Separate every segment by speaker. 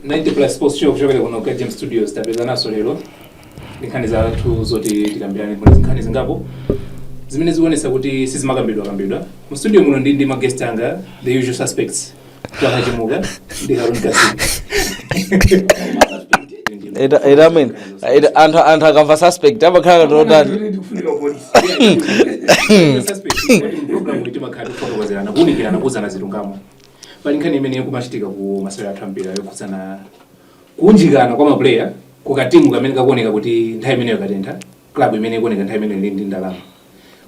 Speaker 1: ninety plus sports show kuchokera kuno ka James Studios tapezekanso lero ndi nkhani zathu zoti tikambirane kuli nkhani zingapo zimene zikuonetsa kuti sizimakambidwa kambidwa mu studio muno ndi ndi ma guest anga the usual suspects Ita- ita amene ita- anthu anthu akamva suspect amakhala totani timakhala tikufotokozerana kuunikirana kuuzana zilungamo pali nkhani imene ikumachitika ku masewera athu ambiri yokhudzana kuunjikana kwa mapuleya ku katimu kamene kakuoneka kuti nthawi imeneyo katentha klabu imene ikuoneka nthawi imeneyo ili ndi ndalama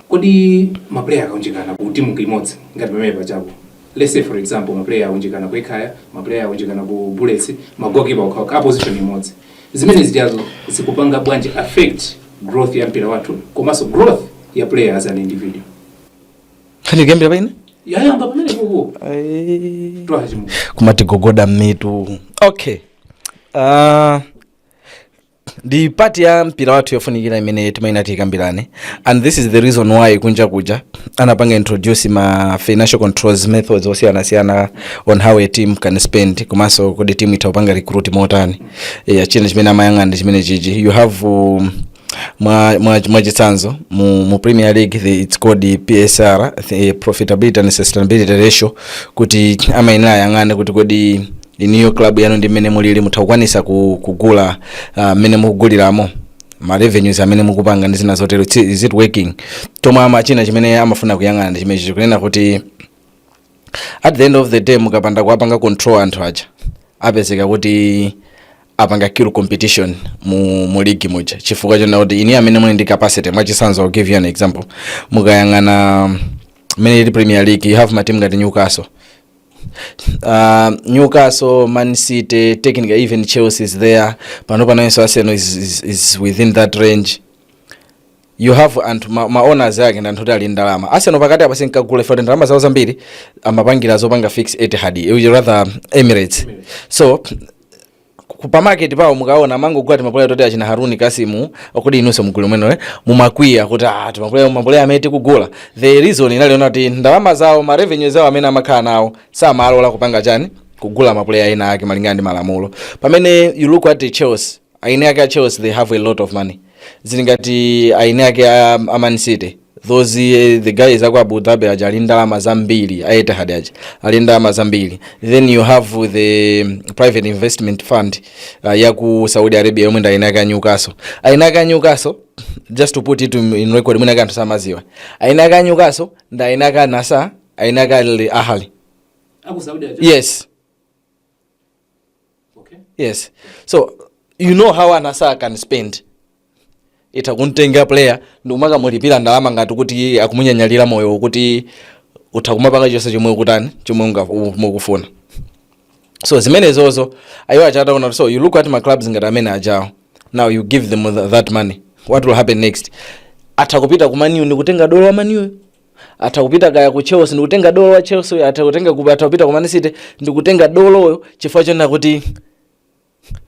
Speaker 1: Kodi ma player akaunjikana ku team imodzi ngati pamene pajapo let's say for example ma player aunjikana ku Ekhaya, ma player aunjikana ku Bullets, ma goalkeeper okha okha a position imodzi. Zimene zijazo zikupanga bwanji affect growth ya mpira wathu komanso growth ya player as an individual. Nkhani ikuyambira pa ine? Yayamba pamene kuko. Eh. Achimwene. Kumatigogoda m'mutu. Okay. Uh, ndi pati ya mpira wathu yofunikira imene timayenera tikambirane and this is the reason why kunja kuja anapanga introduce ma financial controls methods osiyanasiyana on how a team can spend komanso kodi team itha kupanga recruit motani yeah, china chimene amayang'ana ndi chimenechi you have um, mwa- mwa- mwachitsanzo mu, mu premier league the, its called the psr the profitability and sustainability ratio kuti amayenera ayang'ane kuti kodi inuyo club yanu ndi mmene mulili mutha kukwanisa ku, kugula ah, mmene mukuguliramo ma revenues amene mukupanga ndi zina zotero It's- is it working chomwe ama china chimene amafuna kuyang'ana ndi chimenechi kunena kuti at the end of the day mukapanda kuwapanga control anthu aja apezeka kuti apanga kill competition mu, mu ligi muja chifukwa chonena kuti inu amene muli ndi capacity mwachisanzo I'll give you an example mukayang'ana mmene ili premier league you have matimu ngati newcastle uh, Newcastle, Man City, technically even Chelsea is there. Panopa nayenso Arsenal is, is, is within that range. You have anthu ma, ma owners ake ndi anthu oti ali ndalama. Arsenal pakati apa sinkagula if ndalama zawo zambiri amapangira zopanga fix Etihad, eh, rather Emirates. So ku- pa market pawo mukaona amangogula timapuleya toti achina haruni kasimu okuti inunso mugulu momwemo mumakwiya kuti ah, timapuleya mapuleya amene tikugula the reason inali yonena kuti ndalama zawo ma revenue zawo amene amakhala nawo samalola kupanga chani kugula mapuleya ena ake malingana ndi malamulo pamene you look at the chelsea eni ake a chelsea they have a lot of money zili ngati eni ake a, a man city those eh, the guys aku abu dhabi aja ali ndalama zambiri a etihad aja ali ndalama zambiri then you have the mm, private investment fund uh, yaku saudi arabia yomwe ndi eni ake a newcastle eni ake a newcastle just to put it in in record mwina anthu samaziwa eni ake a newcastle ndi eni ake a al nassr eni ake a Al ahli yes yes so you know how al nassr can spend itha kumtenga player ndikumakamulipira ndalama ngati kuti akumunyanyalira moyo kuti utha kumapanga chonse chomwe ukutani chomwe unga- u- mukufuna so zimenezozo ayiwo achataona so you look at ma clubs ngati amene ajawo now you give them th- that money what will happen next atha kupita ku man u ndikutenga dolo wa man u atha kupita kaya ku chelsea ndikutenga dolo wa chelsea uyu atha kutenga kuba atha kupita ku man city ndikutenga doloyo chifukwa chonena kuti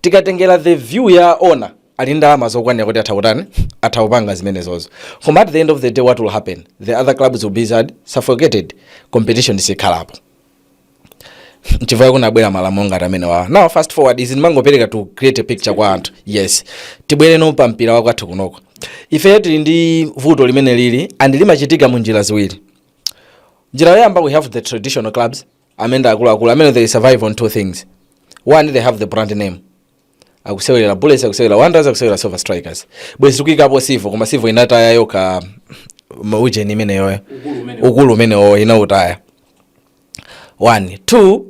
Speaker 1: tikatengera the view ya ona ali ndi ndalama zokwanira kuti atha kutani atha kupanga zimenezozo koma at the end of the day what will happen the other clubs will be suffocated competition sikhalapo nchifukwa kunabwera malamulo ngati amene wawa now fast forward izi ndimangopereka to create a picture kwa anthu yes tibwereno pa mpira wakwathu kunoko ife tili ndi vuto limene lili and limachitika mu njira ziwiri njira yoyamba we have the traditional clubs amene ndi akuluakulu amene they survive on two things one they have the brand name akusewerera bullets akusewerera wanderers akusewerera silver strikers bwezi tikuyikapo civo koma civo inataya yokha ma- ujeni imeneyoyo ukulu umenewo inautaya one two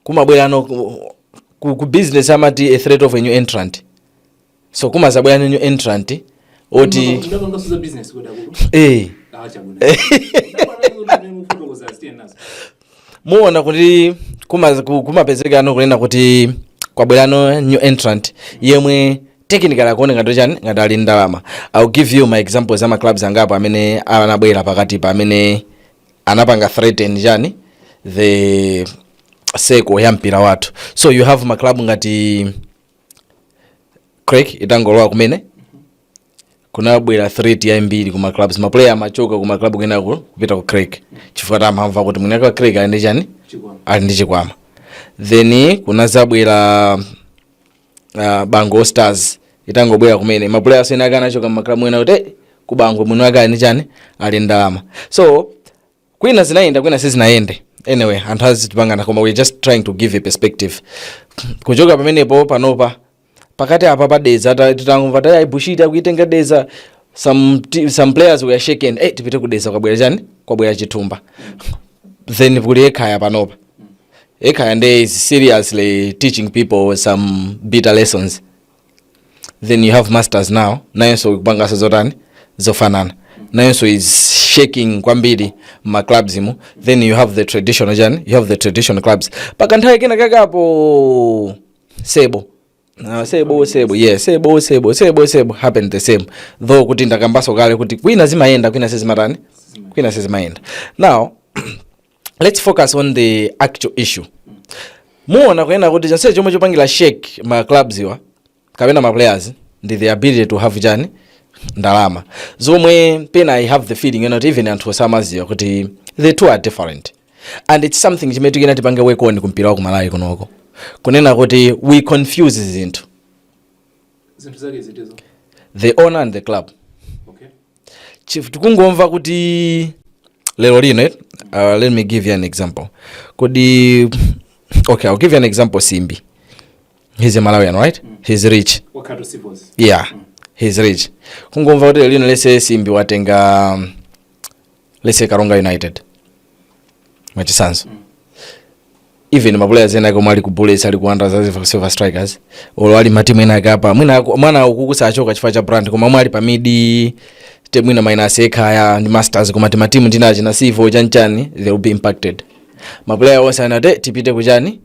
Speaker 1: kumabwerano ku, ku, ku business amati a threat of a new entrant so kumazabwera new entrant oti Ndapangaso za business kodi akulu. eh, Ah, chabwino. Ndapangaso kuti mene mufotokoza asiye nazo. muona kuti kuma- ku- kumapezekano kunena kuti kwabwerano new entrant yemwe technically akuoneka ngati chani ngati ali ndalama ill give you my examples ama clubs angapo amene anabwera pakatipa amene anapanga threaten chani the circle ya mpira wathu so you have maclub ngati creck itangolowa kumene kunabwera threat yambiri kuma clubs maplayer amachoka kuma club kenako kupita ku creck chifukwa tamamva kuti mwini wa creck ali ndi chani ali ndi chikwama then kunazabwera uh, bangwe stars itangobwera kumene maplayer enaake anachoka mmaklabu ena kuti "Eh, ku bangwe mwini wake ali ndi chani ali ndi ndalama so kwina zinayenda kwina sizinayende anyway anthu azitipangana koma we're just trying to give a perspective kuchoka pamenepo panopa pakati apa pa dedza ta- titangomva tati aibushiti akuitenga dedza some, ti- some players were shaken eh tipite ku dedza kwabwera chani kwabwera chithumba then kuli ekhaya panopa ekhaya nde is seriously teaching people some bitter lessons then you have masters now nayenso akupanganso zotani zofanana nayenso is shaking kwambiri ma clubs mo then you have the traditional chani you have the traditional clubs pakanthawi kena kakapo sebo Ah, sebo sebo yeah sebo sebo sebo sebo happened the same though kuti ndakambaso kale kuti kwina zimayenda kwina sizimatani kwina sizimayenda now let's focus on the actual issue muona kunena kuti chonse chomwe chopangira shake ma clubs awa kapena ma players ndi the ability to have chani ndalama zomwe pena i have the feeling yoti even anthu osamaziwa kuti the two are different and it's something chimene tikuyenera tipange work on kumpira wa kumalawi kunoko kunena kuti we confuse zinthu zinthu zake zitizo the owner and the club chief tikungomva kuti lero lino eh, uh, let me give you an example kodi okay i'll give you an example simbi he's a malawian right mm. he's rich yeah mm. he's rich kungomva kuti lero lino lese simbi watenga um, lese karonga united mwachisanzo mm. even maplayers ena ake omwe ali ku bullets ali ku wanderers ali ku silver strikers olo ali matimu ena ake apa mwina aku- mwina ukuku sachoka chifukwa cha brand koma omwe ali pa mid table mwina minus ekhaya ndi masters koma timatimu tina achina civo chanchani they will be impacted maplayer onse azati tipite kuchani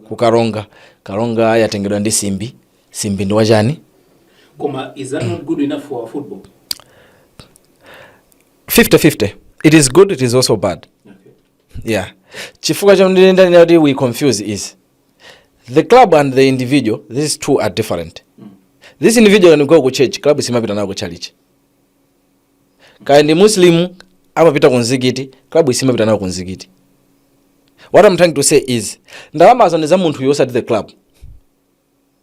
Speaker 1: kukaronga karonga yatengedwa ndi simbi simbi ndi wachani koma is that not good enough for our football 50-50 it is good it is also bad yeah chifukwa chomwe ineyo ndanena kuti we confuse the club and the individual these two are different this individual can go ku church club siimapita nawo ku church kaya ndi muslim amapita ku mzikiti club siimapita nawo ku mzikiti what i'm trying to say is ndalamazo ndi za munthu yosati the club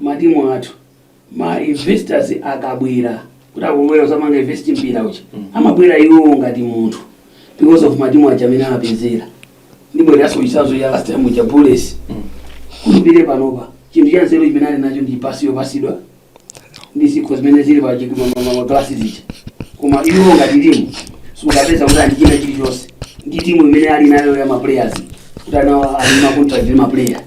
Speaker 1: matimu athu ma investors akabwera kuti akubwera kuzapanga invest mpira uja amabwera iwowo ngati munthu because of matimu aja amene amapezera ndibwereranso chitsanzo cha last time cha bullets kulipire panopa chinthu cha nzeru chimene ali nacho ndi basi yopasidwa ndi zikho zimene zili pa chi- ma- ma- ma- maglasi zija koma iwo ngati timu sukapeza kuti ali ndi china chilichonse ndi timu imene ali nayo ya maplayers kuti anawa ali ndi makontrakt ndi maplayer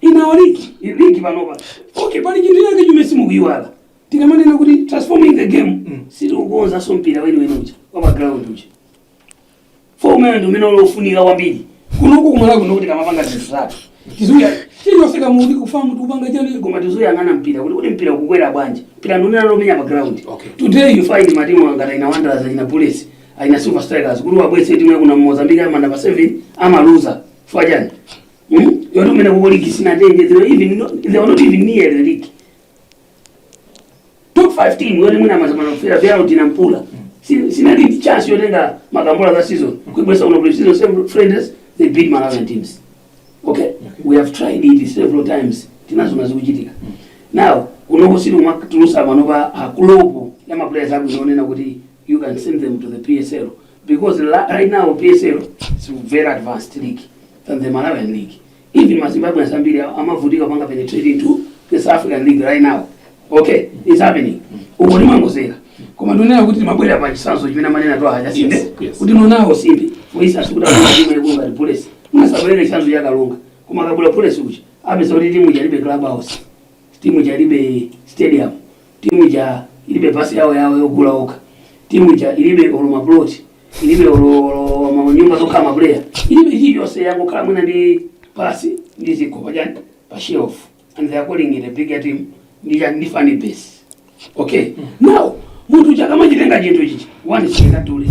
Speaker 1: inawo ligi ili ligi panopa okay pali chinthu chake chimene simukuyiwala tikamanena kuti transforming the game sitili kukonzanso mpira weniweni uja wa pa ground uja womwe ndi umene uli wofunika kwambiri kunoko kumalawi kuno kuti tikamapanga zinthu zathu tizuya chilichonse kaya tikufuna tikupanga chani koma tizuyang'ana mpira kuti kuti mpira ukukwera bwanji mpira ndikunena womenya pa ground Okay. today you find matimu angati achina wanderers achina bullets achina silver strikers kuti abwese timu ya kwina mozambique amenya pa 7 amaluza fwajani Hmm? Yoti imene kwawoko ligi sinatenge zero even no, they were not even near the league. Top 5 team yoti mwina mazamana kufira vyao kwina mpula. Si- Sinali ndi chance yotenga makombola za season. Kuibwesa kuno pre season several friendlies they beat Malawian teams. Okay? We have tried it several times. Tinaziona zikuchitika. Now, kunoko sitikumatulusa panopa crop ya maplayers abwino onena kuti you can send them to the PSL because la- right now PSL is very advanced league than the Malawian league. Even Mazimbabwe and Zambia amavutika panga penetrate into the South African league right now. Okay, it's happening. Uko ni mambo zera. Koma tunena kuti mabwera pa chisanzo chimene manena to haja sinde. Yes, yes. Kuti nonawo simbi. For instance kuti akula timu ya Gonga Bullets. Munasabwera chisanzo ya Kalonga. Koma kabula Bullets kuchi. Apesa kuti timu jaribe clubhouse. Timu jaribe stadium. Team ija ilibe bus yawo yawo yogula okha. Team ija ilibe olo ma plot. Ilibe olo olo ma nyumba zokhala ma player. Ilibe vija zonse yangokhala mwina ndi bus ndi zikho pajani pa shelf. And they are calling it a big team. Ndi ya ndi funny base. Okay. Now munthu akamachitenga chinthu ichi. One chinga tuli.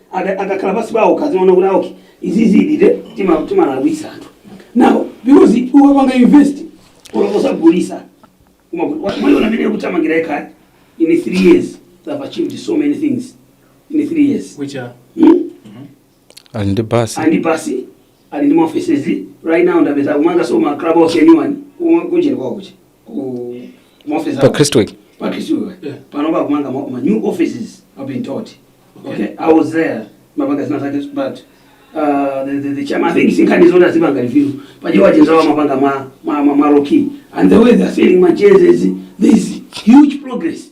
Speaker 1: aka akakhala pansi pawo ukaziona kuti aoki izizidi tima timalawitsa anthu now because ukapanga invest olo osagulitsa umaona mmene ikuthamangira Ekhaya in 3 years they have achieved so many things in 3 years which are hmm? ali ndi basi ali ndi basi ali ndi ma offices right now ndapeza akumanganso ma club house anyone kunjeni kwawo kuchi pa kristu wake pano pakumanga ma ma new offices i've been taught okay i was there mapanga zina zake but uh, the, the, the chairman, I think sinkhani zona zipanga review pajewa chenzawa mapanga ma, ma, ma, ma roki and the way they're selling my jerseys there is huge progress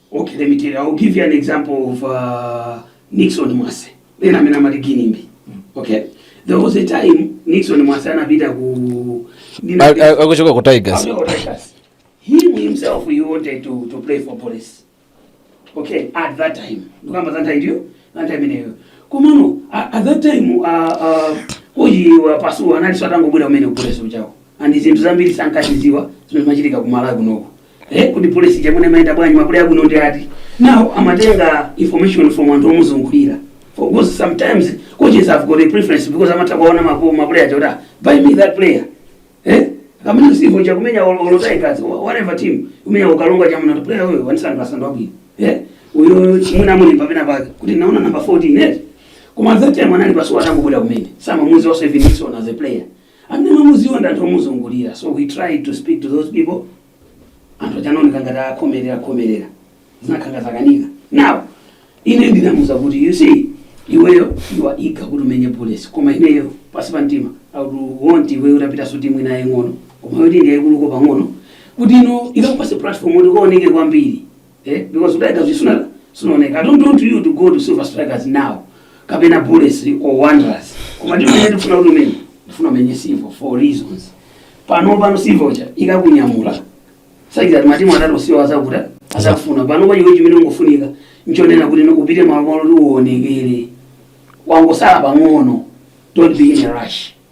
Speaker 1: Okay, let me tell you. I'll give you an example of uh, Nixon Mwase. Uja amene amati Ginimbi. Okay. There was a time Nixon Mwase anapita ku akuchokera ku Tigers. He himself he wanted to, to play for Bullets. Okay, at that time. Ndikamba za nthawi ijayo, za nthawi imeneyo. Komano at that time uh, uh, uyu a Pasuwa anali atangobwera kumene ku Bullets kujako. And zinthu zambiri sankazidziwa zimene zimachitika ku Malawi kunoko. Eh, kuti Bullets ija mwina imayenda bwanji ma player abwino ndi ati now amatenga information from anthu omuzungulira of course sometimes coaches have got a preference because amatha kuwaona mapo ma player aja kuti ah, buy me that player eh kaya ndi Civo akumenya Ol- Olo Tigers wh- whatever team akumenya ukangochamuona player wewe wanisanga asando abwino eh uyo chimuna muli pamena pake kuti ndaona number 14 eh koma that time anali Pasuwa atangobwera kumene samamudziwanso even Nixon as a player Amene amamudziwa ndi anthu omuzungulira so we tried to speak to those people anthu aja anaoneka ngati akukhomerera khomerera zinakhala ngati zakanika now ine ndinamuza kuti you see iweyo you are eager kuti umenye Bullets koma ineyo pansi pa mtima i would want iweyo utapitanso timu ina yaying'ono koma yoti ndi yayikuluko pang'ono kuti iyo ikakupatse platform kuti ukaoneke kwambiri eh because Tigers suna sunaoneke i don't want you to go to Silver Strikers now kapena Bullets or Wanderers koma ndimafuna kuti umenye ndikufuna umenye Civo for reasons pano pano Civo ija ikakunyamula sakhala matimu atatu iwo adzakuta adzakufuna pano kwa iwe chimene chingofunika nchonena kuti upite malo malo kuti uonekere wangosala pang'ono don't be in a rush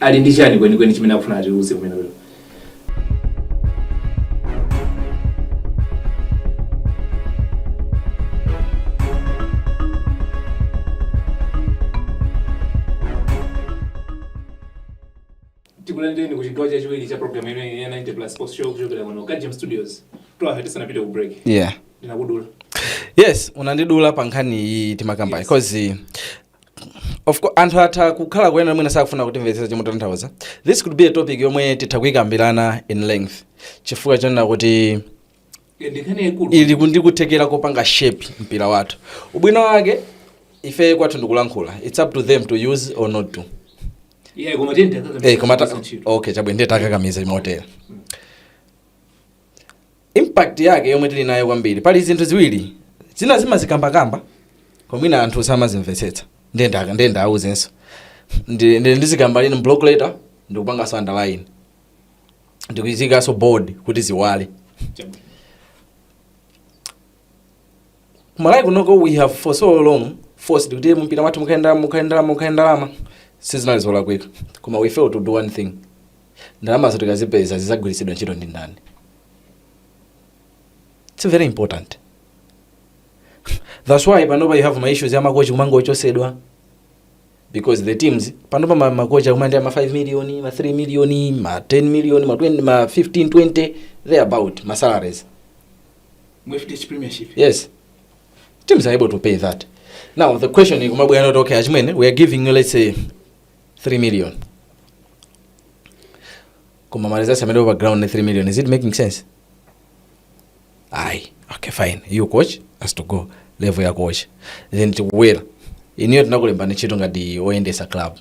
Speaker 1: ali ndi chani kwenikweni chimene akufuna atiuze kumene kuyo tikulandireni ku chigawo chachiwiri cha programu imeneyi ya 90 Plus Sports Show kuchokera kuno ku Gem Studios to ife tisanapite ku break yeah ndinakudula yes unandidula pa nkhani iyi timakamba Yes. because of course, anthu atha kukhala kunena mwina sakufuna kutimvetsetsa chomwe tikutanthauza this could be a topic yomwe titha kuyikambirana in length chifukwa chonena kuti ndikhani yaikulu ili ndi kuthekera kopanga shape mpira wathu ubwino wake ife kwathu ndikulankhula its up to them to use or not yeah koma ndiye takakamiza Eh, koma ta- ntchito. okay chabwino ndiye takakamiza imotera impact yake yomwe tili nayo kwambiri pali zinthu ziwiri zina timazikambakamba koma mwina anthu samazimvetsetsa ndiye nda- ndiye ndiwauzenso ndi ndi- ndizikamba mu block letter ndikupangaso underline ndikuziikanso bold kuti ziwale kumalawi kunoko we have for so long forced kuti mpira wathu mukhale ndalama mukhale ndalama mukhale ndalama sizinali zolakwika koma we fail to do one thing ndalamazo tikazipeza zidzagwiritsidwa ntchito ndi ndani it's very important that's why panopa you have ma issues ya makochi kumangochotsedwa because the teams panopa ma- makochi akumaendera ma 5 million ma 3 million ma 10 million ma 20 ma 15 20 there about ma salaries mu fdh premiership yes teams are able to pay that now the question ikumabwera not okay achimwene we are giving you let's say 3 million koma marizasi amene pa ground ni 3 million is it making sense ayi okay fine you coach has to go level ya coach then tikubwera iniyo tinakulemba ni ntchito ngati oyendesa club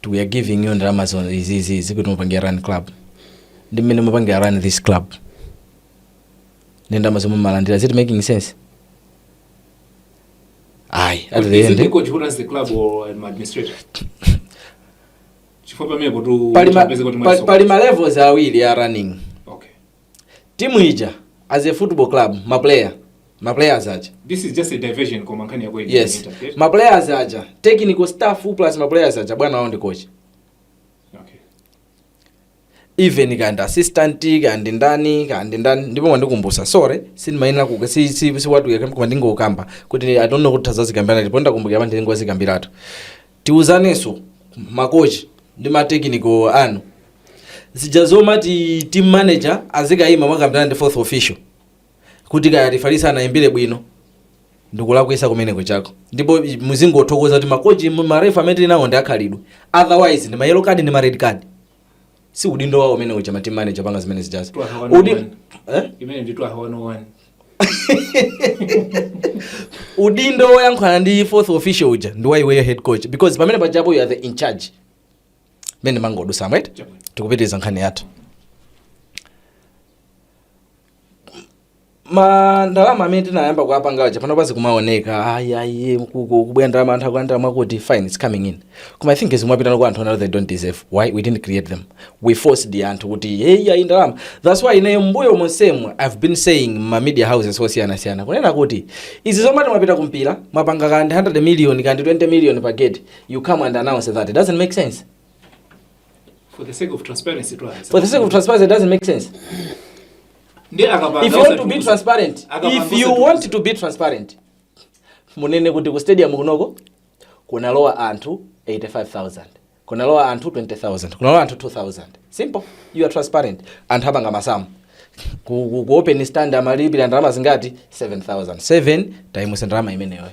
Speaker 1: we are giving you ndalama zo- izi izi izi kuti muzipangira run club ndi mmene mupangira run this club ndi ndalama zomwe mumalandira is it making sense ayi at the Is it end the coach who runs the club or an administrator? Chifukwa pamene kuti pali ma- utapeze kuti pali- mwaliso- pali ma levels awiri a running Okay. Team ija as a football club, ma player, ma players aja. this is just a diversion koma nkhani yake inangopanga Yes. interfere. Ma players aja, technical staff plus ma players aja bwana wao ndi coach. okay even kandi assistant kandi ndani kandi ndani ndipo mwandikumbutsa sorry sindimayenera kuka si si si watu yakamba koma ndingokamba kuti i don't know kuti tidzazikambirana ndipo ndakumbukira apa ndingozikambiratu Tiuzanenso ma coach ndi ma technical inu zija zomati team manager azikaima kumakambirana ndi fourth official kuti kaya referee sanaimbire bwino ndikulakwitsa kumene kujako ndipo muzingothokoza kuti ma coach ma ref amene tili nawo ndi akhalidwe otherwise ndi ma yellow card ndi ma red card. si udindo wawo umene uja ma team manager kupanga zimene zijazi Udi, eh? imene ndi 201 udindo woyankhulana ndi fourth official uja ndi waiweyo head coach because pamene pajapo you are the in charge timangodutsa right tikupitiriza nkhani yathu ma ndalama amene tinayamba kuwapanga aja panopa zikumaoneka ayi ayi mukubwera ndalama anthu akulandira mwakuti fine it's coming in koma i think zimapitanso kwa anthu oti they don't deserve why we didn't create them we forced anthu kuti hey ayi ndalama that's why ineyo mbuyo monsemu i've been saying ma media houses osiyanasiyana kunena kuti izi zomati mwapita kumpira mwapanga kandi 100 million kandi 20 million pa gate you come and announce that it doesn't make sense for the sake of transparency it doesn't make sense Ndiye akapanga osatiuza. if you want to be transparent munene kuti ku stadium kunoko kunalowa anthu 5000 kunalowa anthu 20000 kunalowa anthu 2000 simple you are transparent anthu apanga masamu ku, ku, ku open stand amalipira ndalama zingati 7000 7 times ndalama imeneyo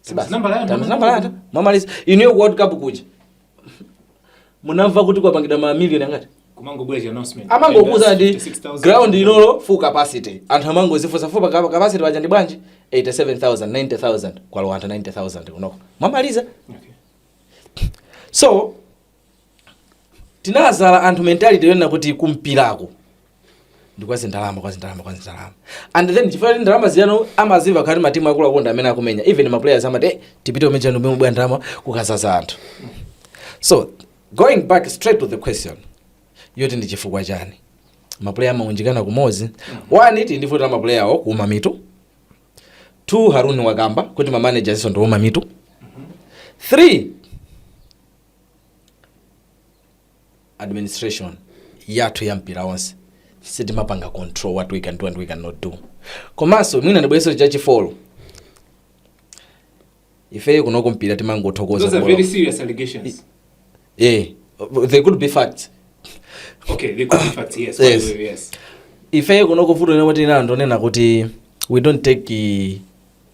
Speaker 1: Times number ya ndalama. mwamaliza inuyo ku world cup kuja munamva kuti kwapangidwa ma million angati kumangobwera chi announcement amangokuuzani ndi 86,000. ground ilo full capacity anthu amangozifunsa full pa- capacity paja ndi bwanji 87000 90000 kwalowa anthu 90000 unoko mwamaliza Okay. so tinadzala anthu mentality yonena kuti kumpirako ndi kwa zindalama kwa zindalama kwa zindalama and then chifukwa kuti ndalama zija amazimva kuti matimu akuluakulu ndi amene akumenya even ma players amati "Eh, tipite umene chanu mbwe ndalama kukadzadza anthu so going back straight to the question yoti ndi chifukwa chani mapuleya amaunjikana kumodzi one ndi vuto la mapuleyawo kuuma mitu two haruni wakamba kuti ma manager nso ndi ouma mitu three administration yathu ya mpira onse sitimapanga control what we can do and we cannot do komanso mwina ndibweretse cha chi four ifeyo kunoko mpira timangothokoza kubola. Those are very serious allegations. yeah they could be facts Okay, they could be facts, yes. by the Yes. way, yes. ifeyo kunoko vuto lomwe tili nalo ndonena kuti we don't take eh,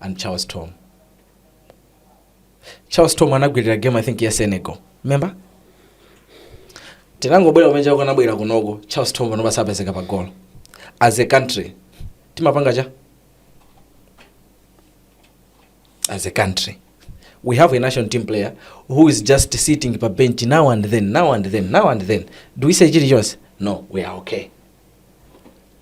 Speaker 1: and charles tom charles tom anagwirira game i think ya senegal remember tinangobwera kumene chako anabwera kunoko charles tom panopa sapezeka pa golo as a country timapanga cha as a country we have a national team player who is just sitting pa bench now and then now and then now and then do we say chilichonse no we are okay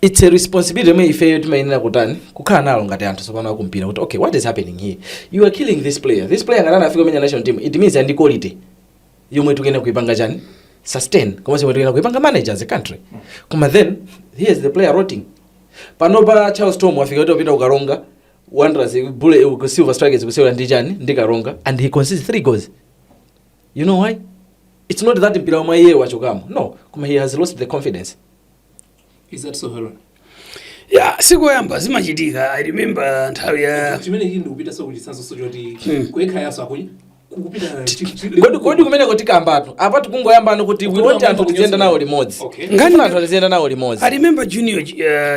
Speaker 1: its a responsibility yomwe ifeyo timayenera kutani kukhala nayo ngati anthu tsopano akumpira kuti okay what is happening here you are killing this player this player ngati anafika kumenya national team it means ndi quality yomwe tikuyenera kuipanga chani sustain komanso yomwe tikuyenera kuipanga manage as a country koma then here is the player rotting pano pa charles thom afika kuti wapita kukaronga wanderers bullets ku silver strikers kusewera ndi chani ndi karonga and he concedes three goals you know why it's not that mpira mwa iye wachokamo no koma he has lost the confidence Is that so, Harold? ya sikuyamba zimachitika i remember nthawi ya chimene chili ndikupita so kuchitsanzo so choti kuyekha yaso akuyi kukupita chi- chi- kodi kodi kumeneko tikambatu apa tikungoyamba ndi kuti we want anthu tiziyenda nawo limodzi Okay. ngati anthu tiziyenda nawo limodzi i remember junior uh,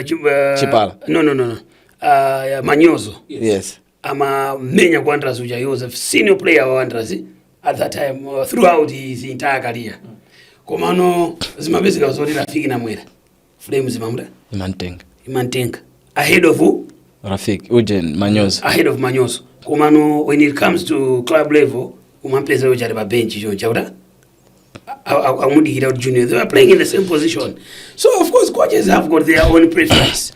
Speaker 1: chi- uh, Chipala. no no no no uh, manyozo yes amamenya ku Wanderers uja he was a senior player wa Wanderers at that time uh, throughout his entire career komano zimapezeka zoti rafik namwera flames imamu- imamutenga imamutenga ahead of who? rafik ujen manyozo ahead of manyozo komano when it comes to club level umampeza uja ali pa bench choncha kuti akumudikira kuti junior they were playing in the same position so of course coaches have got their own preference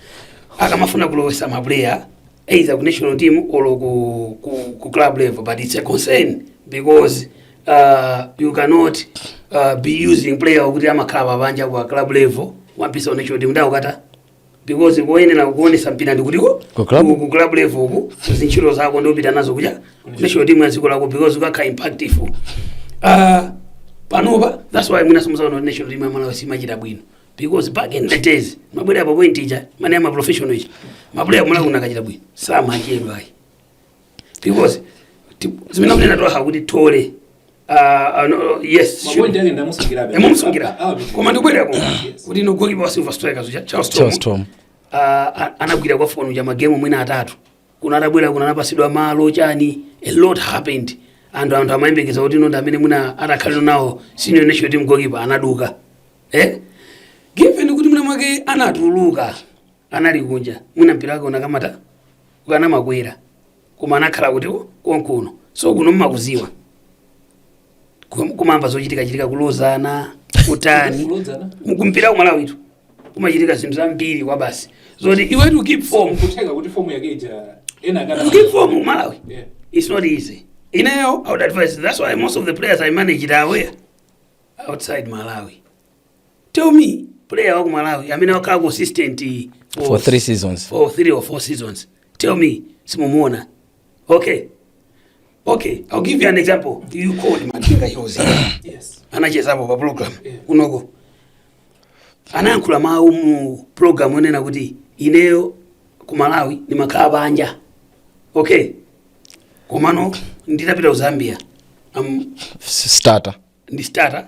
Speaker 1: akamafuna kulowesa maplayer either ku national team or ku, ku, ku club level but it's a concern because uh, you cannot uh, be using player okuti amakhala pabanja ku club level wampisa ku national team ndakukata because koyenera kuonesa mpira ndi kuti ku- Ku club? ku- ku club level uku zintchito zako ndikupita nazo kuja national team ya dziko lako because ukakhala impactive uh, panopa that's why mwina mumaona kuti national team ya malawi simachita bwino because back in the days akabwera pa point ija imene ma professional aja amabwera kumalawi unkachita bwino samachedwa ayi because ti- zimene akunena Thole kuti Thole ah, ah, no, yes sure. mapointi ake ndamusungirabe ndimusungira Ah, ah, koma ndikubwerako Yes. kuti goalkeeper wa silver strikers uja Charles Charles Thom Thom. ah, ah, anagwira pa fomu ija magemu mwina atatu kuno atabwera kuno anapatsidwa malo chani a lot happened anthu anthu amayembekeza kuti ndi amene mwina atakhale number one senior national team goalkeeper anaduka eh given kuti mwina mwake anatuluka anali kunja mwina mpira wake unakakwera ukanamakwera koma anakhala kuti ali konkuno so kuno mumakudziwa Kum- kumamva zochitika chitika kulozana kutani Kulozana? mu mpira kumalawitu kumachitika zinthu zambiri kwabasi zoti iwe to keep form kutheka kuti fomu yake ija ena akana- to keep form kumalawi Yeah. it's not easy ineyo i would advise that's why most of the players i managed are away outside malawi tell me player wa ku malawi amene wakhala consistent for, for three seasons for three or four seasons tell me simumuona okay okay i'll give you an example Chiukepo Msowoya yes anachezapo pa program kunoko anayankhula mawu mu program onena kuti ineyo ku malawi ndimakhala panja okay komano nditapita ku zambia am- S- starter ndi starter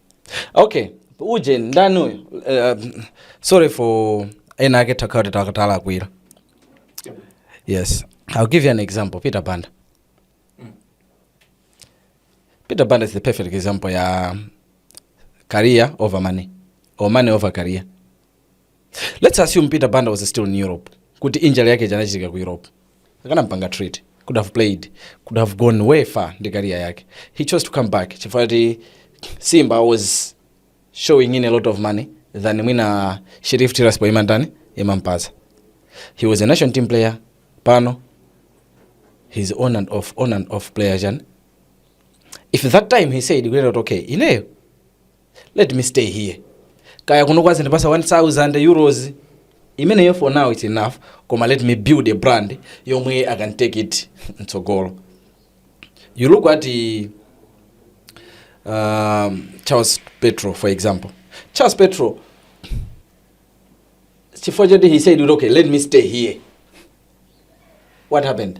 Speaker 1: okay uje ndani uyu uh, sorry for ena ake takhala kuti talakwira yes i'll give you an example peter banda peter banda is the perfect example ya career over money or money over career let's assume peter banda was still in europe kuti injury yake janachitika ku europe akanampanga treat could have played could have gone way far ndi career yake he chose to come back chifukwa kuti simba was showing in a lot of money than mwina sheriff tiraspol imandani imampasa he was a national team player pano he's on and off on and off player jan if that time he said kuti okay ineyo let me stay here kaya kuno kwazindipasa 1000 euros imeneyo for now its enough koma let me build a brand yomwe i can take it mtsogolo you look at the, um, charles petro for example charles petro chifukwa choti he said okay let me stay here what happened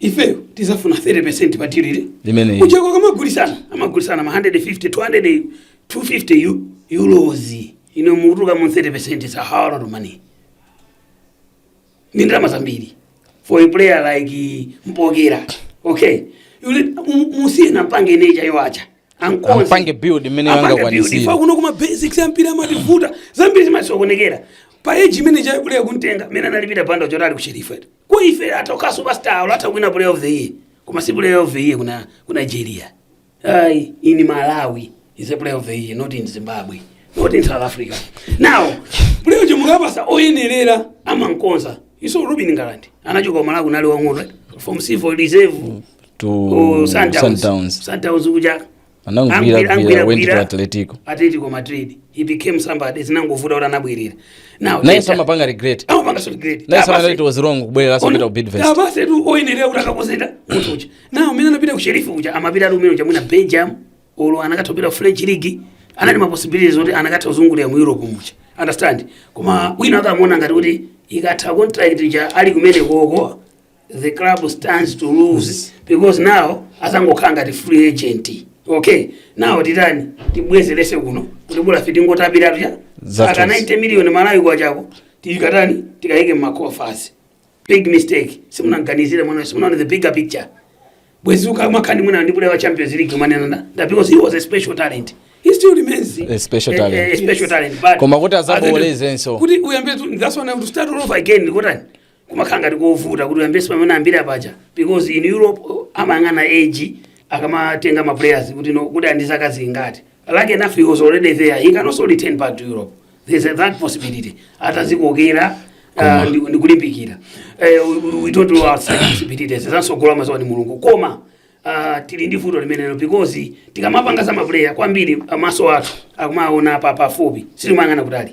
Speaker 1: ifeyo tizafuna 30% pa deal iri Limeneli. ku Czech ko kamagulisana amagulisana ma 150 200 250 eu- euros inu mukatenga mu 30% is a whole lot of money ndi ndalama zambiri for a player like mpokera okay ujeyo musiye ampange neja yoacha ankonze Ampange build imene Ampange angakwanitsire. build. Ife kuno kuma basics ampira amativuta zambiri zimasokonekera pa age imene Chabula anamutenga mene anapita panda chotali ku Sheriff eti Kwa ife atoka superstar alo atha kuwina player of the year. Koma si player of the year kuna ku Nigeria. Ai, in Malawi is a player of the year, not in Zimbabwe, not in South Africa. Now, player uja mukapasa oyenerera amankonza. Iso Ruben Ngalande anachoka ku Malawi kunali wang'ono eh? from C4 reserve to Oh, Sundowns. Sundowns. Sundowns kuja anagwira Angwira- gwira angwira- went to gwira. atletico atletico madrid he became somebody zinangovuta kuti anabwerera now naye Jeter- samapanga regret amapanga so great naye samapanga it was wrong kubwerera kupita ku bidvest abase tu oyenerera kuti akakonzere munthu uja now mmene anapita ku Sheriff kuja amapita ali umene uja mwina belgium olo anakatha kupita ku french league anali ma possibilities oti anakatha kuzungulira mu europe muja understand koma wina akamuona ngati kuti ikatha contract ija ali kumenekoko the club stands to lose because now azangokhala ngati free agent, okay now titani timubwezerese kuno kuti bola tingotapiratu cha Zathu. aka 90 million malawi kwacha ko tikatani tikayike mma coffers big mistake simunaganizire mwana simunaone the bigger picture bwezi tikumakamba mwina ndi player wa champions league mmanena that because he was a special talent he still remains A special talent. a, special talent but Koma kuti azabowolezenso. kuti uyambe to- that's when I have to start all over again kotani kumakhala ngati kovuta kuti uyambenso pamene unayambira paja because in europe uh, amayang'ana age akamatenga ma players kuti no kuti ali ndi zaka zingati like enough he was already there he can also return back to europe there's a, that possibility atazikoka uh, Koma. ndi- ndi kulimbikira Eh, we- we don't rule out such possibilities zansogolo amaziwa ni mulungu koma ah, tili ndi vuto limenelo because tikamapanga za mapuleya kwambiri amaso athu akumaona apa pafupi sitimayang'ana kutali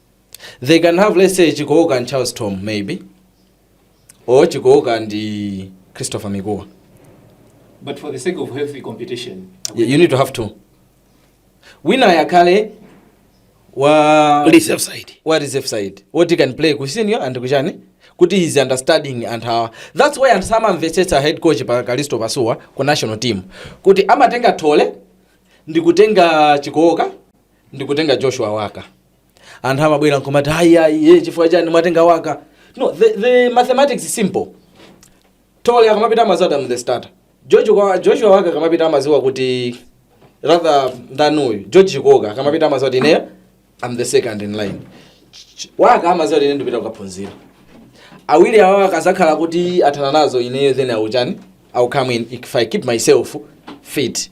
Speaker 1: they can have let's say chikooka and charles tom maybe or chikooka ndi christopher mikuwa But for the sake of healthy competition, you, you need to have two wina akhale wa reserve side wa reserve side woti he can play ku senior and kuchani kuti he's understanding anthu awa that's why anthu samamvetsetsa head coach pa kalisto pasuwa ku national team kuti amatenga thole ndi kutenga chikooka ndikutenga joshua waka anthu amabwera nkumati ayi ayi ayi chifukwa chani mwatenga waka no the, the mathematics is simple thole akamapita amaziwa am the starter george kwa joshua waka akamapita amaziwa kuti rather than uyu george chikooka akamapita amaziwa kuti ineyo am the second in line Ch- waka amaziwa kuti ine ndipita kukaphunzira awiri awa akazakhala kuti athana nazo ineyo then auchani i'll come in if i keep myself fit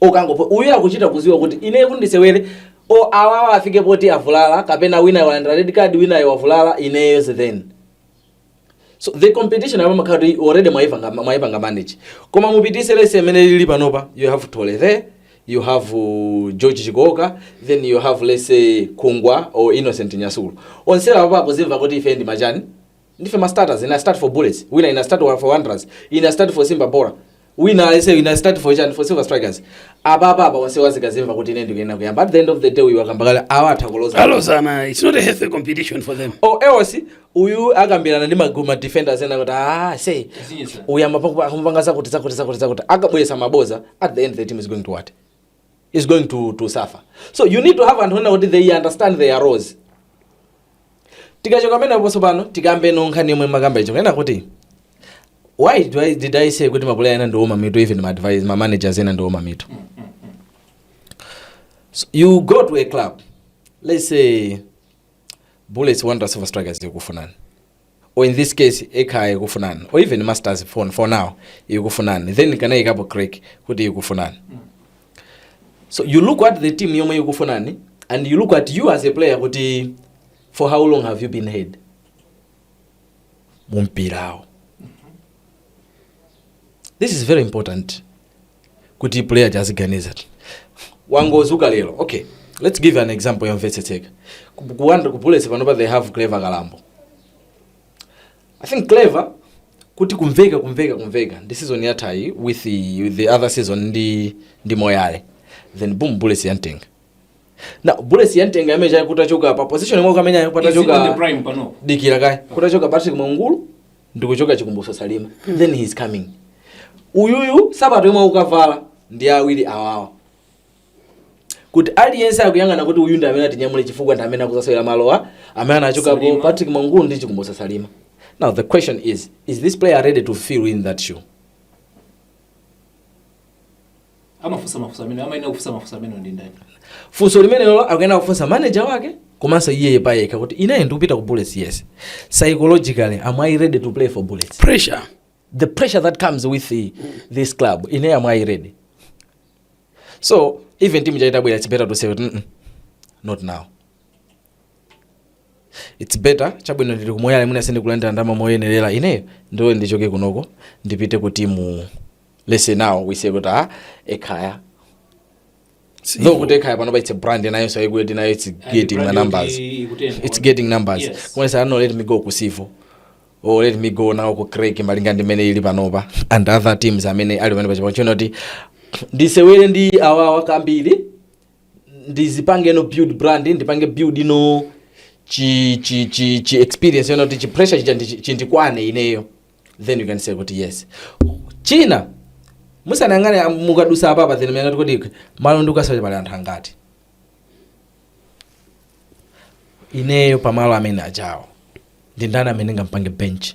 Speaker 1: or kangophonya uyu akuchita kuziwa kuti ineyo kuti ndisewere or awawa afike poti avulala kapena winayo walandira red card winayo wavulala ineyo then so the competition amene imakhala kuti already mwaipanga mwaipanga manage koma mupitise let's say mmene zilili panopa you have thole there you have uh, george chikooka then you have let's say mikuwa or innocent nyasulu onsewa apo akuzimva kuti ife ndi ma chani Ndife ma starters, ine I start for Bullets, wina ine I start for Wanderers, ine I start for Simba Bhora, wina aise ine I start for chani for Silver Strikers. Apa apa apa onse azikazimva kuti ine ndikuyenera kuyamba. At the end of the day uyu akayamba kale awa atha kulozalozana it's not a healthy competition for them or else uyu akambirana ndi magulu ma defenders ena kuti aise uyamba paku- akamupanga zakuti zakuti zakuti zakuti akabwesa ma bonza at the end the team is going to what? is going to, to suffer so you need to have anthu onena kuti they understand their roles tikachoka pameneposo pano tikambe nkhani yomwe mmakamba yokanena kuti why do I, did i say kuti mapuleya ena ndiwoma mitu even ma advice ma managers ena ndiwoma mitu so you go to a club let's say bullets wanderers silver strikers zikufunani or in this case ekhaya ikufunani or even masters phoni for now ikufunani then kanayikapo creck kuti ikufunani so you look at the team yomwe ikufunani and you look at you as a player kuti for how long have you been heard mumpiramo this is very important kuti player aja aziganiza wangozuka lero okay let's give an example yomvetsetseka Ku- kuwanda ku bullets panopa they have clever kalambo i think clever kuti kumveka kumveka kumveka ndi season yathayi with the, with the other season ndi, ndi moyale then boom bullets yantenga now bullets yantenga imene ijayi kutachoka pa position yomwe kamenyayo Is it on the kutachoka prime panopa? dikira kaye kutachoka patrick mwaungulu ndikuchoka chikumbutso salima then he is coming uyuyu sapato yomwe akukavala ndi awiri awawa kuti aliyense akuyang'ana kuti uyu ndi amene atinyamule chifukwa ndi amene akuzasewera malo amene anachokapo Salima. patrick mwaungulu ndi chikumbutso salima now the question is is this player ready to fill in that shoe amafunsa mafunso amene amayenera kufunsa mafunso amene ndi ndani funso limenelo akuyenera kufunsa manager wake komanso iye payekha kuti ineyo ndikupita ku bullets yes psychologically am i ready to play for bullets pressure the pressure that comes with the, this club ineyo am i ready so even team chaitabwera it's better to say mm -mm, not now it's better chabwino ndili ku moyale mwina sindikulandira ndalama moyenerera ineyo ndilole ndichoke kunoko ndipite ku timu let's say nawo wise kuti a ekhaya Sivo though. kuti ekhaya panopa it's a brand nayo so ikuti nayo it's getting ma numbers it's getting numbers Yes. koma you say no let me go ku sivo or let me go now ku creck malinga ndi imene ili panopa and other teams amene ali pamene pa chipanda chino kuti ndisewere ndi awawa kambiri ndizipangeno build brand ndipange buildno chi chi chi chi experience yonena kuti chi pressure chija ndi- chindikwane ineyo then you can say kuti yes china musanayang'ane am- mukadusa apapa then muyang'ane kuti malo ndikukasaka pali anthu angati ineyo pamalo amene ajawo ndi ndani amene ngampange bench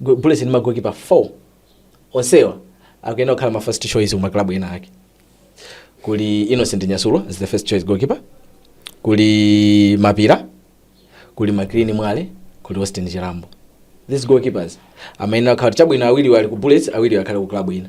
Speaker 1: Go- bullets ndi magokipa 4 onsewa akuyenera kukhala ma first choice kuma club ena ake kuli innocent nyasulu is the first choice goalkeeper kuli mapira kuli maclean mwale kuli austin chirambo these goalkeepers amayenera kukhala kuti chabwino awiri ali ku bullets awiri akhale ku club ina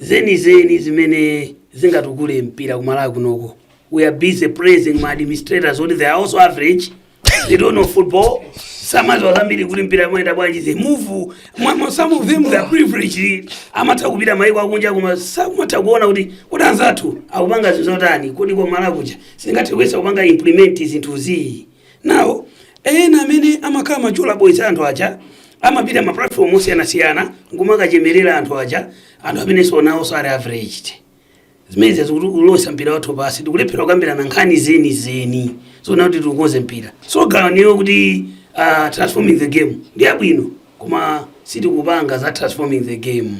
Speaker 1: zenizeni zimene zingatukule mpira ku malawi kunoko we are busy praising ma administrators oti they are also average they don't know football samaziwa zambiri kuti mpira amayenda bwanji they move mwa- mwa- some of them they are privileged amatha kupita maiko akunja koma samatha kuona kuti kodi anzathu akupanga zinthu zotani kodi kwa malawi kuja singathe kuyesa kupanga implement zinthu zii Now, ena amene amakhala ma chola boys anthu aja amapita ma platform osiyanasiyana nkumakachemerera anthu aja anthu amene sionawo sali averaged zimene zikutulutsa mpira wathu pansi tikulephera kukambirana nkhani zeni zeni zoona kuti tikonze mpira so slogan iyo kuti uh, transforming the game ndi abwino koma sitikupanga za transforming the game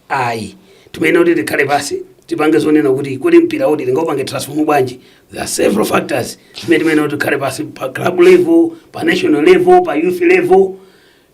Speaker 1: Ayi. Timayenera kuti tikhale pansi tipange zonena kuti kodi mpirawu tingaupange transform bwanji. There are several factors zimene timayenera kuti tikhale pansi pa club level, pa national level, pa youth level.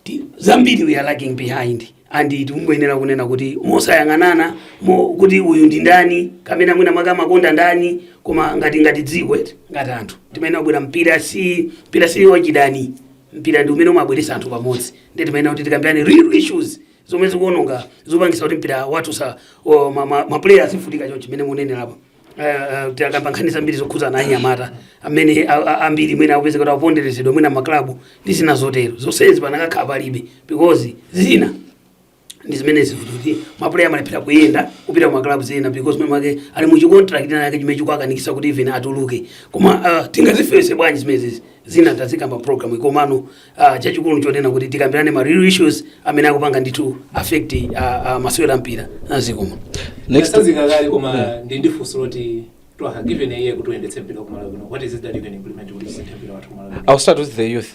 Speaker 1: Ti- Zambiri we are lagging behind and tikungoyenera kunena kuti mosayang'anana nkhope kuti uyu ndi ndani kapena mwina mwake amakonda ndani koma ngati ngati dziko eti ngati anthu timayenera kubwera mpira si mpira si wachidani mpira ndi umene umabweretsa anthu pamodzi ndi timayenera kuti tikambirane real issues zomwe zikuononga zopangisa kuti mpira wathu sa o, ma, ma, ma player azivutika chonchi mmene mukunenera apa Uh, tikakamba nkhani zambiri zokhuza na anyamata amene a- a- ambiri mwina akupezeka kuti akuponderezedwa mwina maklabu ndi zina zotero zonsezi pakanakhala palibe because zina ndi zimene zimachititsa kuti mapuleya amalephera kuyenda kupita ku maklabu zina because mwina mwake ali mu chicontract chake chimene chikuakanikisa kuti even atuluke koma uh, tingazithetse bwanji zimenezi zina tazikamba pa program komano uh, chachikulu chonena kuti tikambirane ma real issues amene akupanga ndithu affect uh, uh, masewera a mpira a dziko koma Next- Tatsanzika kale koma ndi ndi funso loti you are given iwe kuti uyendetse mpira ku Malawi kuno what is it that you can implement kuti usinthe mpira wathu ku Malawi kuno? I'll start with the youth.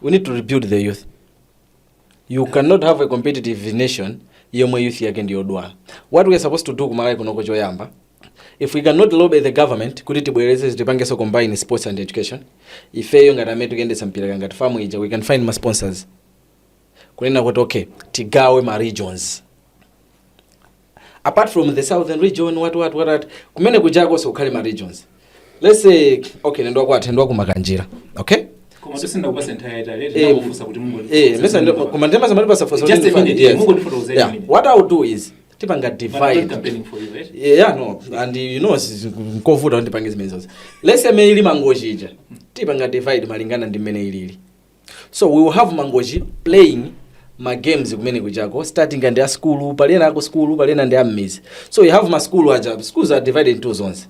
Speaker 1: We need to rebuild the youth. You cannot have a competitive nation yomwe youth yake ndiyodwala. What we are supposed to do ku Malawi kunoko choyamba if we cannot lobby the government kuti tibwereze tipangenso combine sports and education ifeyo ngati amene tikuyendetsa mpira kaya ngati FAM ija we can find ma sponsors kunena kuti okay tigawe ma regions apart from the southern region what what what, what kumene kujakonso kukhale ma regions let's say okay ineyo kwathu ndi ku Makanjira okay koma sitinakupatse nthawi yaitali Eh, tinakufunsa kuti mungo eh mesa ndo koma ndema zamati pasafosa Just a minute, mungondifotokozera a minute. what i will do is tipanga But I'm not divide campaigning for you, right? yeah, yeah no and you know si- nkovuta kuti tipange zimene zonse let's say mene ili Mangochi ija tipanga divide malingana ndi mmene ilili so we will have Mangochi playing ma games kumene kujako starting ndi a sukulu kupalana nawo a sukulu kupalana ndi a m'midzi so you have ma school aja schools are divided into zones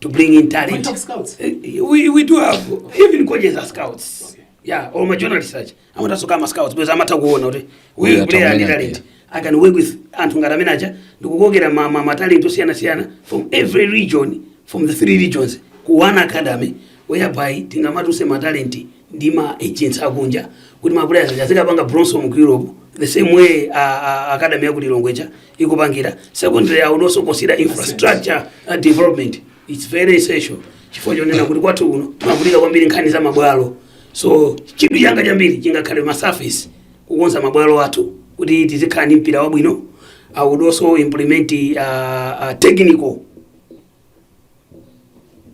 Speaker 1: to bring in talent. We have scouts. Eh, eh, we, we do have even coaches are scouts. Okay. Yeah, or my journalists such. I want us to come as scouts because I'm not going to we play a talent. I can work with Antu ngati amene aja ndikukokera ma, ma, ma talent osiyana siyana from every region from the three regions ku one academy whereby tingamatuse ma talent ndi ma agents akunja kuti ma players azikapanga bronze mu Europe the same way uh, uh, academy yaku Lilongweja ikupangira secondary awonenso kusiya infrastructure uh, development its very essential chifukwa chonena kuti kwathu kuno timavutika kwambiri nkhani za mabwalo so chidwi changa chambiri chingakhale masurface kukonza mabwalo athu kuti tizikhala ndi mpira wabwino i would also implement uh, uh, technical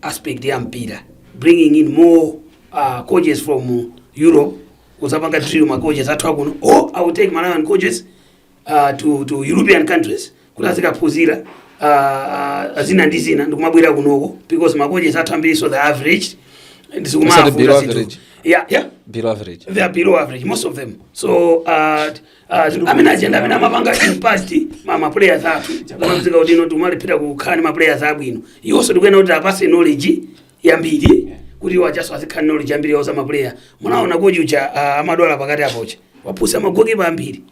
Speaker 1: aspect ya mpira bringing in more uh, coaches from europe kudzapanga drill ma coaches athu akuno or i will take malawian coaches uh, to, to european countries kuti azikaphunzira uh, zina ndi zina ndikumabwera kunoko because makoches athu ambirinso they are average Osati below average. yeah, yeah below average they are below average most of them so uh, uh, amene ma legend amene amapanga impart ma ma players athu amapezeka kuti ino tikumalephera kukhala ndi ma players abwino iwonso tikuyenera kuti tiapatse knowledge yambiri kuti iwo achanso azikhala knowledge yambiri yowauza ma player munaona kochucha uh, amadwala pakati apocha wapusa magokipa ambiri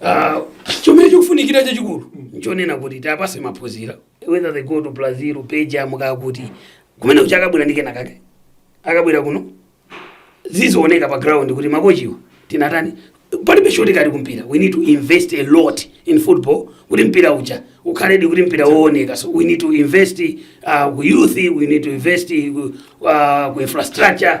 Speaker 1: Ah, chomwe chikufunikira chachikulu nchonena kuti tiapatse maphunzira whether they go to brazil peja mukaa kuti kumene kucha akabwera ndi kena kake akabwera kuno zizioneka pa ground kuti makochiwa tinatani palibe shortcut kumpira we need to invest a lot in football kuti mpira uja ukhaledi kuti mpira wooneka so we need to invest uh, ku youth we need to invest uh, ku infrastructure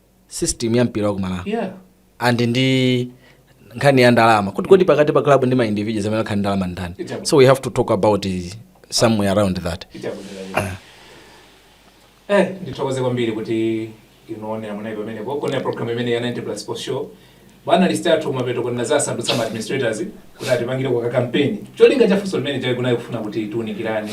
Speaker 1: system ya mpira wa kumalawi yeah and ndi nkhani ya ndalama kuti kodi pakati pa club ndi ma individuals amene akhale ndi ndalama ndani Ijabu. so we have to talk about uh, somewhere around that ichakudera eh ndithokoze kwambiri kuti inoonera munayi pamenepo kuonera program imene ya 90 plus sports show bwana listatu kumapeto kona zasandutsa ma administrators kuti atipangire kwa kampeni cholinga cha funso limeneli chayi kunayi kufuna kuti tiunikirane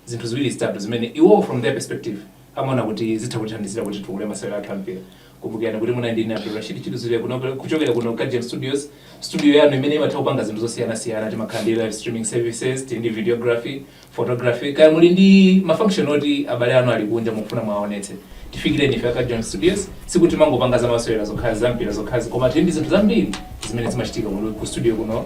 Speaker 1: zinthu ziwiri zitatu zimene iwowo from their perspective amaona kuti zitha kutithandizira kuti titukule masewero athu ampira kumbukirani kuti munali ndine abdul rashid chiluzire kuno kuchokera kuno ku Gem studios studio yanu imene imatha kupanga zinthu zosiyanasiyana timakhala ndi live streaming services tili ndi videography photography kaya muli ndi mafunction oti abale anu ali kunja mukufuna mwaonetse tifikireni ife a ku Gem studios sikuti timangopanga za masewera zokhala zampira zokhazi koma tili ndi zinthu zambiri zimene zimachitika kuno ku studio kuno